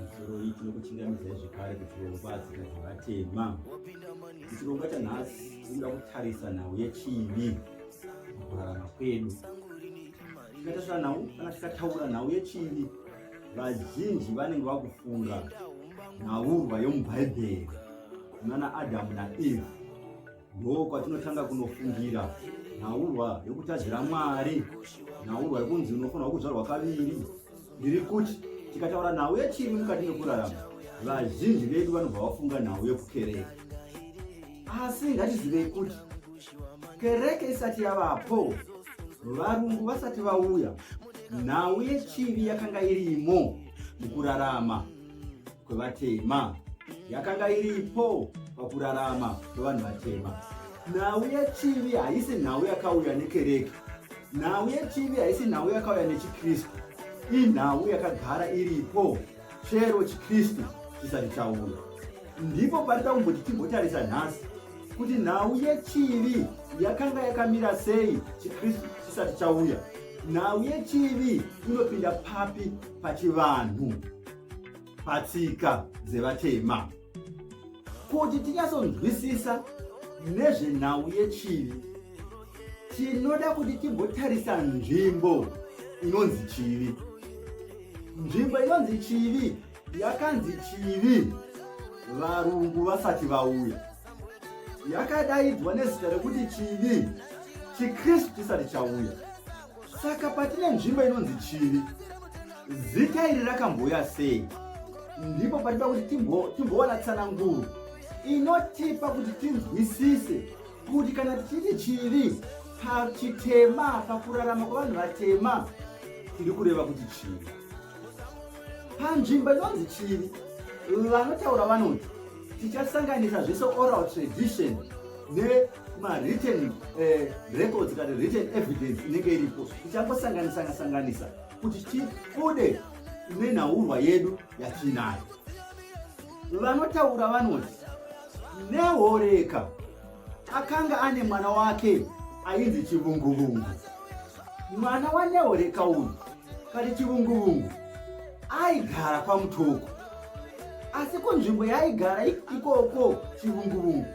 Musoro iyi tinokuchingamizai zvekare kuti vaupa asikadzi vatema chirongwa chanhasi tinoda kutarisa nhau yechivi mukurarama kwedu tikatarisa nhau kana tikataura nhau yechivi vazhinji vanenge vakufunga nhaurwa yomubhaibheri nana adamu naeve Ndoo kwatinotanga kunofungira nhaurwa yokutadzira Mwari, nhaurwa yokunzi unofanirwa kuzvarwa kaviri. Ndiri kuti tikataura nhau yechivi mukati mekurarama, vazhinji vedu vanobva vafunga nhau yekukereke. Asi ngatizivei kuti kereke isati yavapo, varungu vasati vauya, nhau yechivi yakanga irimo mukurarama. kwevatema yakanga iripo pakurarama kwevanhu vatema. Nhau yechivi haisi nhau yakauya nekereke. Nhau yechivi haisi nhau yakauya nechiKristu. Inhau yakagara iripo chero chiKristu chisati chaona. Ndipo parita kumboti timbotarisa nhasi kuti nhau yechivi yakanga yakamira sei chiKristu chisati chauya. Nhau yechivi inopinda papi pachivanhu? patsika dzevatema kuti tinyatsonzwisisa nezvenhau yechivi tinoda kuti timbotarisa nzvimbo inonzi chivi nzvimbo inonzi chivi yakanzi chivi varungu vasati vauya yakadaidzwa nezita rekuti chivi chikristu chisati chauya saka patine nzvimbo inonzi chivi zita iri rakambouya sei ndipo patida kuti timbowana tsananguro inotipa kuti tinzwisise kuti kana tichiti chivi pachitema pakurarama kwevanhu vatema tiri kureva kuti chivi panzvimbo inonzi chiri vanotaura vanoti tichasanganisa zvese oral tradition nemawritten eh, records kana written evidence inenge iripo tichangosanganisana sanganisa kuti tibude nenhaurwa yedu yatiinayo vanotaura vanoti nehoreka Akanga ane mwana wake ainzi Chivunguvungu. Mwana waNeoreka uyu kati Chivunguvungu aigara kwaMutoko. Asi kunzvimbo yaaigara ikoko Chivunguvungu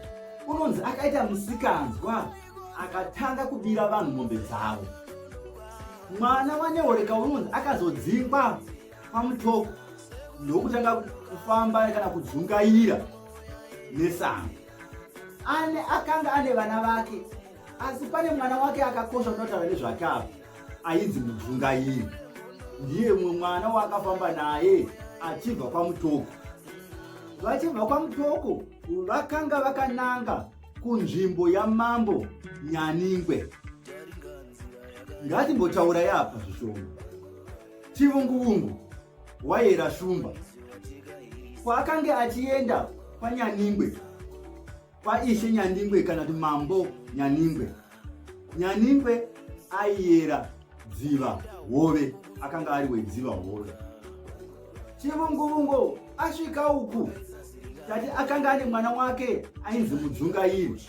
unonzi akaita musikanzwa akatanga kubira vanhu mombe dzavo. Mwana waNeoreka unonzi akazodzingwa kwaMutoko ndokutanga kufamba kana kudzungaira nesango. ane akanga ane vana vake asi pane mwana wake akakosha unotaura nezvake apo ainzi mudzungairi ndiye mumwe mwana waakafamba naye achibva kwamutoko vachibva kwamutoko vakanga vakananga kunzvimbo yamambo nyaningwe ngatimbotaura yapa zvishoma chivunguvungu Waera Shumba kwaakange achienda kwaNyaningwe, kwaIshe Nyaningwe kana kuti Mambo Nyaningwe. Nyaningwe aiera dziva hove, akanga ari wedziva hove. Chivunguvungu asvika uku tati akanga ane mwana wake ainzi Mudzungairi.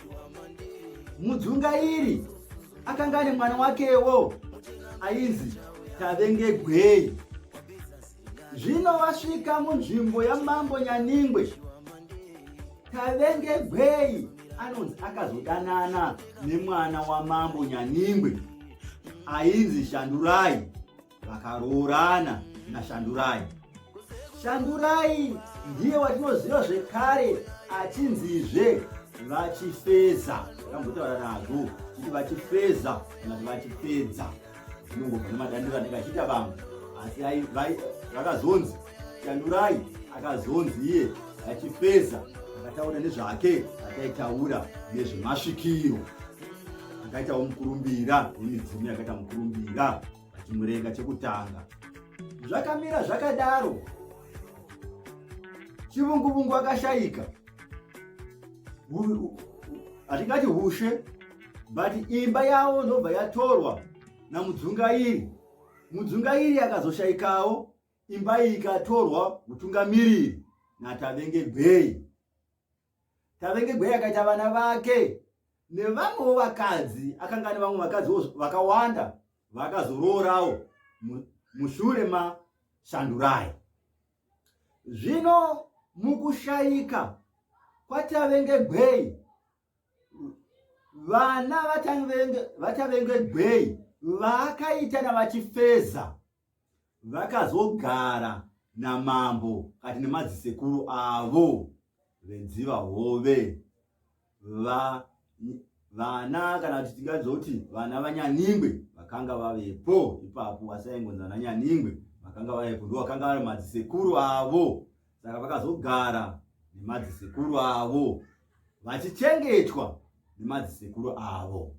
Mudzungairi akanga ane mwana wakewo ainzi tavengegwei zvino vasvika munzvimbo yamambo nyaningwe tavengegwei anonzi akazodanana nemwana wamambo nyaningwe ainzi shandurai vakaroorana nashandurai shandurai ndiye watinoziva zvekare achinzizve vachifeza vakambotaura nazvo kuti vachifeza kana kuti vachipedza zvinongobva nemadandiro anenge achiita vamwe asi vakazonzi shandurai akazonzi iye achifeza akataura nezvake akaitaura nezvemasvikiro akaitawo mukurumbira nemibvumo yakaita mukurumbira pachimurenga chekutanga zvakamira zvakadaro chivunguvungu akashayika hatingati hushe but imba yavo ndobva yatorwa namudzungairi mudzungairi akazoshayikawo imba iyi ikatorwa mutungamiriri natavenge bheyi Tavengegwei akaita vana vake nevamwewo vakadzi, akanga ane vamwe vakadzi vakawanda vakazoroorawo mushure mashandurai. Zvino mukushaika kwatavengegwei vana vatavengegwei vaakaita navachifeza Vakazogara namambo kati nemadzisekuru avo vedziva hove va vana kana kuti tingadzoti vana vanyaningwe vakanga vavepo ipapo vasaingonzi vana nyaningwe vakanga vavepo ndo vakanga vari madzisekuru avo saka vakazogara nemadzisekuru avo vachichengetwa nemadzisekuru avo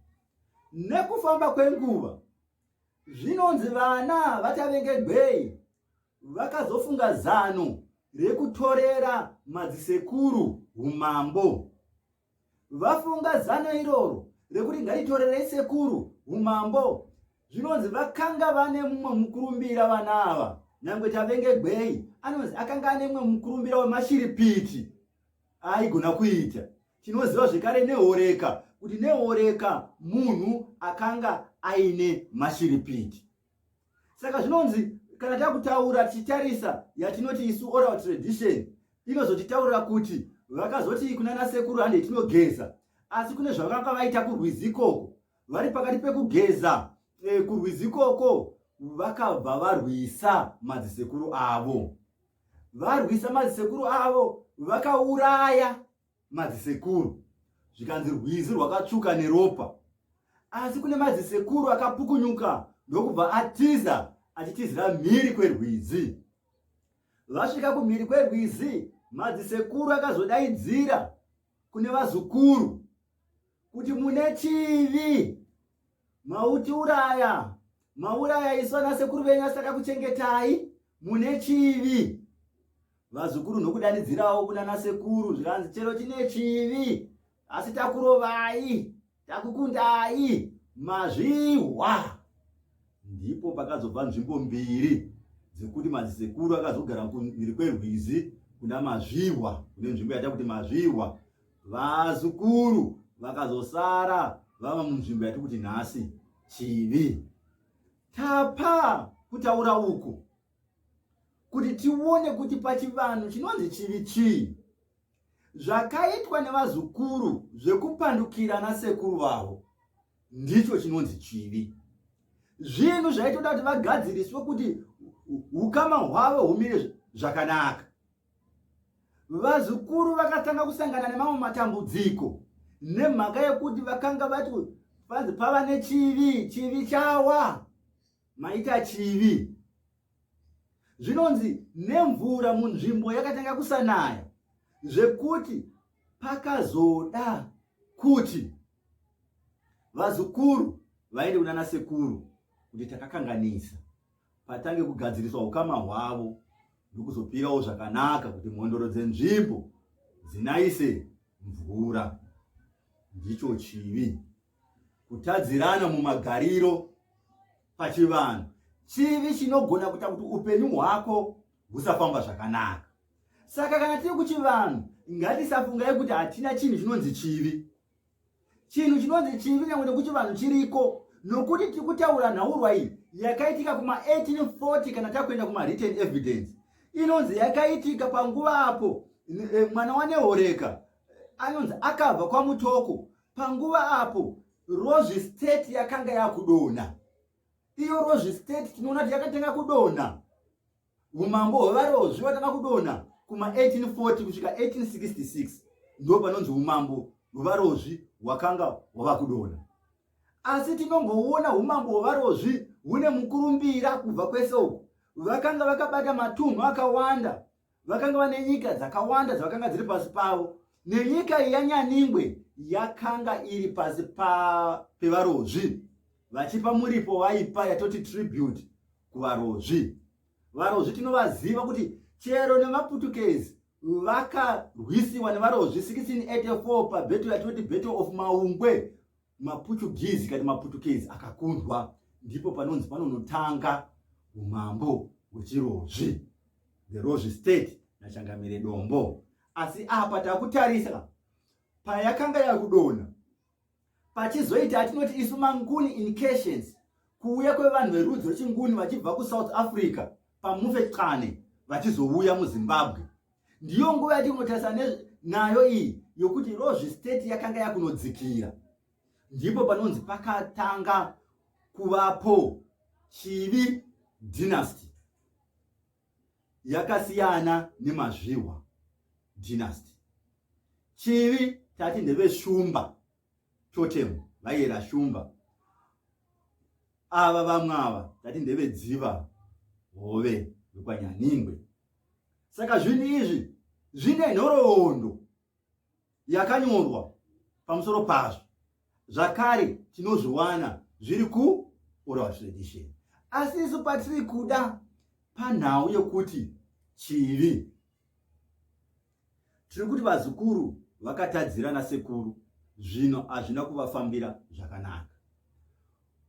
nekufamba kwenguva Zvinonzi vana vaChavengegwei vakazofunga zano rekutorera madzisekuru humambo. Vafunga zano iroro rekuti ngaritorerei sekuru humambo zvinonzi vakanga vane mumwe mukurumbira vana ava nyangwe Chavengegwei anonzi akanga ane mumwe mukurumbira wemashiripiti aigona kuita tinoziva zvekare neoreka kuti neoreka munhu akanga aine mashiripiti saka zvinonzi kana takutaura tichitarisa yatinoti isu oral tradition inozotitaurira kuti vakazoti kunana sekuru hande tinogeza asi kune zvavanga vaita kurwizi ikoko vari pakati pekugeza e, kurwizi ikoko vakabva varwisa madzisekuru avo varwisa madzisekuru avo vakauraya madzisekuru zvikanzi rwizi rwakatsvuka neropa asi kune madzisekuru akapukunyuka ndokubva atiza achitizira mhiri kwerwizi vasvika kumhiri kwerwizi madzisekuru akazodaidzira kune vazukuru kuti mune chivi mautiuraya mauraya isu ana sekuru venyu asaka kuchengetai mune chivi vazukuru nokudanidzirawo kunana sekuru zvikanzi chero chine chivi asi takurovai takukundai mazvihwa ndipo pakazobva nzvimbo mbiri dzekuti mazisekuru akazogara kumhiri kwerwizi kuna mazvihwa kune nzvimbo yata kuti mazvihwa vazukuru vakazosara vava munzvimbo yati kuti nhasi chivi tapa kutaura uku kuti tione kuti pachivanhu chinonzi chivi chii zvakaitwa nevazukuru zvekupandukira nasekuru vavo ndicho chinonzi chivi zvinhu zvaitoda kuti vagadziriswe kuti ukama hwavo humire zvakanaka vazukuru vakatanga kusangana nemamwe matambudziko nemhaka yekuti vakanga vati vanzi pava nechivi chivi chawa maita chivi zvinonzi nemvura munzvimbo yakatanga kusanaya zvekuti pakazoda kuti vazukuru vaende kunana sekuru kuti takakanganisa patange kugadziriswa ukama hwavo ndokuzopirawo zvakanaka kuti mhondoro dzenzvimbo dzinaise mvura ndicho chivi kutadzirana mumagariro pachivanhu chivi chinogona kuita kuti upenyu hwako husafamba zvakanaka saka kana tiri kuchivanhu ngatisafungai kuti hatina chinhu chinonzi chivi chinhu chinonzi chivi nyangwe nekuti vanhu chiriko nokuti tiri kutaura nhaurwa iyi yakaitika kuma1840 kana takuenda kumareturn evidence inonzi yakaitika panguva apo eh, mwana wanehoreka anonzi akabva kwamutoko panguva apo rozvi state yakanga yakudonha iyo rozvi state tinoona kuti yakatanga kudonha Umambo hwevarozvi hwatanga kudonha kuma 1840 kusvika 1866 ndo panonzi umambo hwevarozvi hwakanga hwava kudonha. Asi tinongoona umambo hwevarozvi hune mukurumbira kubva kwese uku. Vakanga vakabata matunhu akawanda, vakanga vane nyika dzakawanda dzavakanga dziri pasi pavo, nenyika yanyaningwe yakanga iri pasi pa, pevarozvi. vachipa muripo waipa yatoti tribute kuvarozvi varozvi tinovaziva kuti chero nemaputukezi vakarwisiwa nevarozvi 1684 pabeto yatoti battle of maungwe maputugizi kati maputukezi akakundwa ndipo panonzi panonotanga umambo hwechirozvi the rozvi state nachangamire dombo asi apa takutarisa payakanga yakudona Pachizoita atinoti isu manguni incursions kuuya kwevanhu verudzi rwechinguni vachibva kusouth africa pamufe qane vachizouya muzimbabwe ndiyo nguva yatinotarisa nayo iyi yokuti rozvi state yakanga yakunodzikira ndipo panonzi pakatanga kuvapo chivi dynasty yakasiyana nemazvihwa dynasty chivi tati ndeveshumba totem vaiyera shumba ava vamwe ava tati ndevedziva hove vekwanyaningwe saka zvinhu izvi zvine nhoroondo yakanyorwa pamusoro pazvo zvakare tinozviwana zviri kuoral tradition asi isu patiri kuda panhau yokuti chivi tiri kuti vazukuru vakatadzira nasekuru zvino hazvina kuvafambira zvakanaka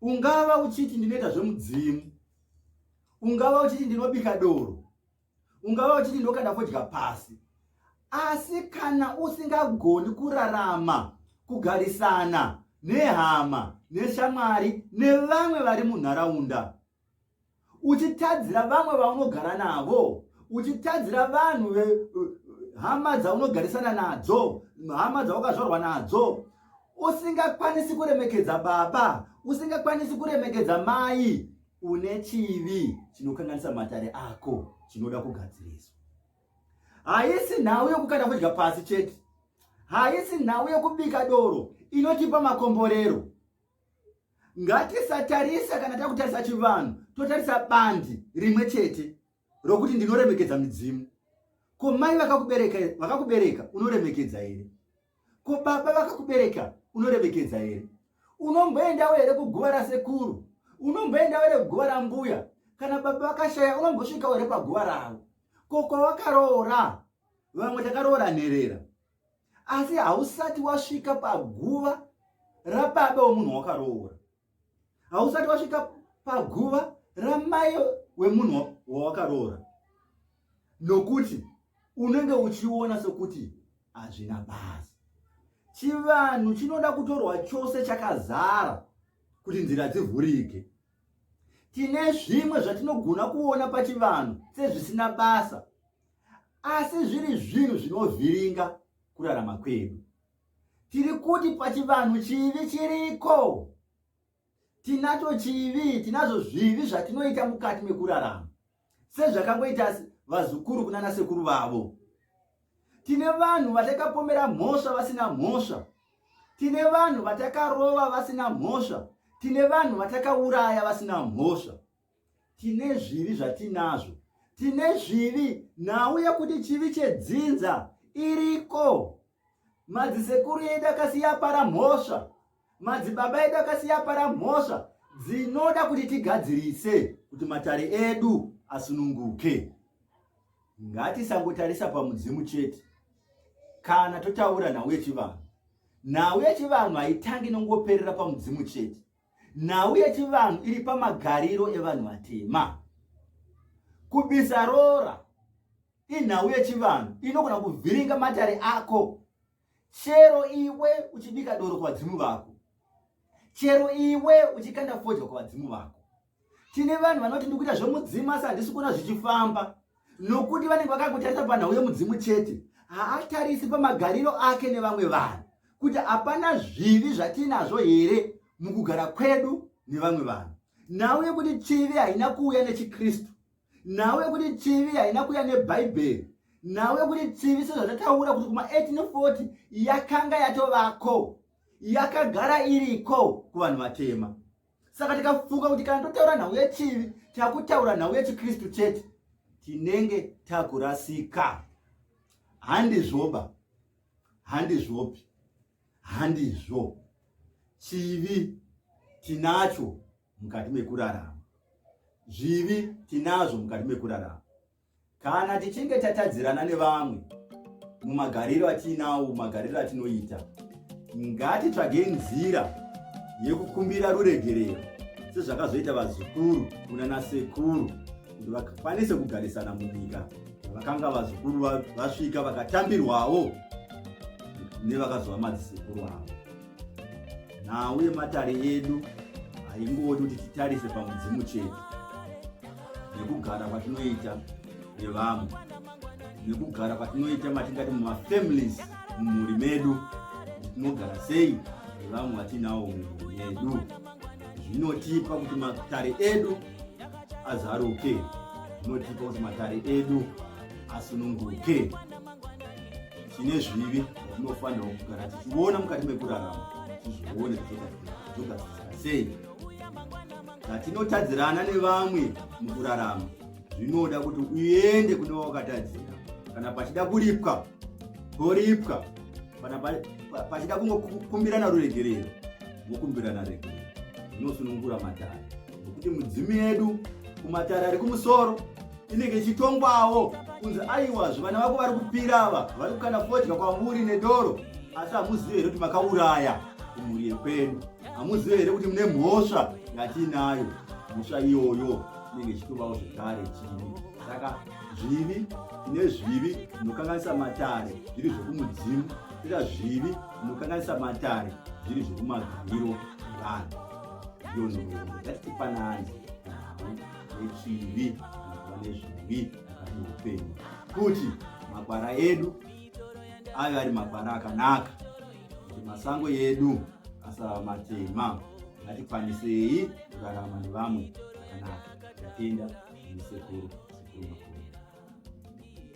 ungava uchiti ndinoita zvemudzimu ungava uchiti ndinobika doro ungava uchiti ndokada kudya pasi asi kana usingagoni kurarama kugarisana nehama neshamwari nevamwe vari munharaunda uchitadzira vamwe vaunogara navo uchitadzira vanhu hama dzaunogarisana nadzo hama dzaukazvarwa nadzo usingakwanisi kuremekedza baba usingakwanisi kuremekedza mai une chivi chinokanganisa matare ako chinoda kugadziriswa haisi nhau yokukanda fodya pasi chete haisi nhau yokubika doro inotipa makomborero ngatisatarisa kana takutarisa chivanhu totarisa bandi rimwe chete rokuti ndinoremekedza midzimu ko mai vakakubereka vakakubereka unoremekedza here ko baba vakakubereka unoremekedza here unomboendawo here kuguva rasekuru unomboendawo here kuguva rambuya kana baba vakashaya unombosvikawo here paguva ravo ko kwawakaroora vamwe takaroora nherera asi hausati wasvika paguva rababa womunhu wakaroora hausati wasvika paguva ramai wemunhu wawakaroora nokuti unenge uchiona sokuti hazvina basa chivanhu chinoda kutorwa chose chakazara kuti nzira dzivhurike tine zvimwe zvatinogona kuona pachivanhu sezvisina basa asi zviri zvinhu zvinovhiringa kurarama kwedu tiri kuti pachivanhu chivi chiriko tinacho chivi tinazvo zvivi zvatinoita mukati mekurarama sezvakangoita vazukuru kunana sekuru vavo tine vanhu vatakapomera mhosva vasina mhosva tine vanhu vatakarova vasina mhosva tine vanhu vatakauraya vasina mhosva tine zvivi zvatinazvo tine zvivi nhau yekuti chivi chedzinza iriko madzisekuru edu akasiya para mhosva madzibaba edu akasiya para mhosva dzinoda kuti tigadzirise kuti matare edu asununguke ngatisangotarisa pamudzimu chete kana totaura nhau yechivanhu nhau yechivanhu haitangi nongoperera pamudzimu chete Nhau yechivanhu iri pamagariro evanhu vatema. Kubisa roora inhau yechivanhu inogona kuvhiringa matare ako chero iwe uchibika doro kuvadzimu vako chero iwe uchikanda fodya kuvadzimu vako tine vanhu vanoti ndikuita zvemudzimu asi handisi kuona zvichifamba nokuti vanenge vakakutarisa panhau yemudzimu chete haatarisi pamagariro ake nevamwe vanhu kuti hapana zvivi zvatiinazvo here mukugara kwedu nevamwe vanhu nhau yekuti chivi haina kuuya nechikristu nhau yekuti chivi haina kuuya nebhaibheri nhau yekuti chivi sezvatataura kuti kuma 1840 yakanga yatovako yakagara iriko kuvanhu vatema saka tikafunga kuti kana totaura nhau yechivi takutaura nhau yechikristu chete tinenge takurasika handizvoba handizvopi handizvo chivi tinacho mukati mekurarama zvivi tinazvo mukati mekurarama Kana tichinge tatadzirana nevamwe mumagariro atiinawo, mumagariro atinoita, ngatitsvagei nzira yekukumbira ruregerero sezvakazoita vazukuru kunana sekuru kuti vakwanise kugarisana munyika vakanga vazukuru vasvika vakatambirwawo nevakazova madzisekuru avo nhau yematare edu haingodi kuti titarise pamudzimu chete nekugara kwatinoita nevamwe nekugara kwatinoita matingati mumafamilies mumhuri medu tinogara sei nevamwe vatinawo mumhuri yedu zvinotipa kuti matare edu azaruke zvinotipa kuti matare edu asununguke tine zvivi zvinofanirwa kugara tichiona mukati mekurarama tizvione zvogadzirisana sei zvatinotadzirana nevamwe mukurarama zvinoda kuti uende kune wakatadzira kana pachida kuripwa toripwa kana pachida kungokumbirana ruregerero vokumbirana regerero zvinosunungura matare nokuti mudzimu yedu kumatare ari kumusoro inenge ichitongwawo kunzi aiwa zvivana vako vari kupira ava vari kukana fodya kwamuri nedoro asi hamuzive here kuti makauraya kumhuri yekwedu hamuzive here kuti mune mhosva yatiinayo mhosva iyoyo inenge ichitovawo zvekare chii saka zvivi ine zvivi zvinokanganisa matare zviri zvekumudzimu ita zvivi zvinokanganisa matare zviri zvekumagariro vanhu yonhoo yatitipanani nechivi anofa nezvivi akati upenyu kuti makwara edu ave ari makwara akanaka kuti masango edu asava matema ngatikwanisei kurarama nevamwe zvakanaka tatenda nesekuru sekuru makuru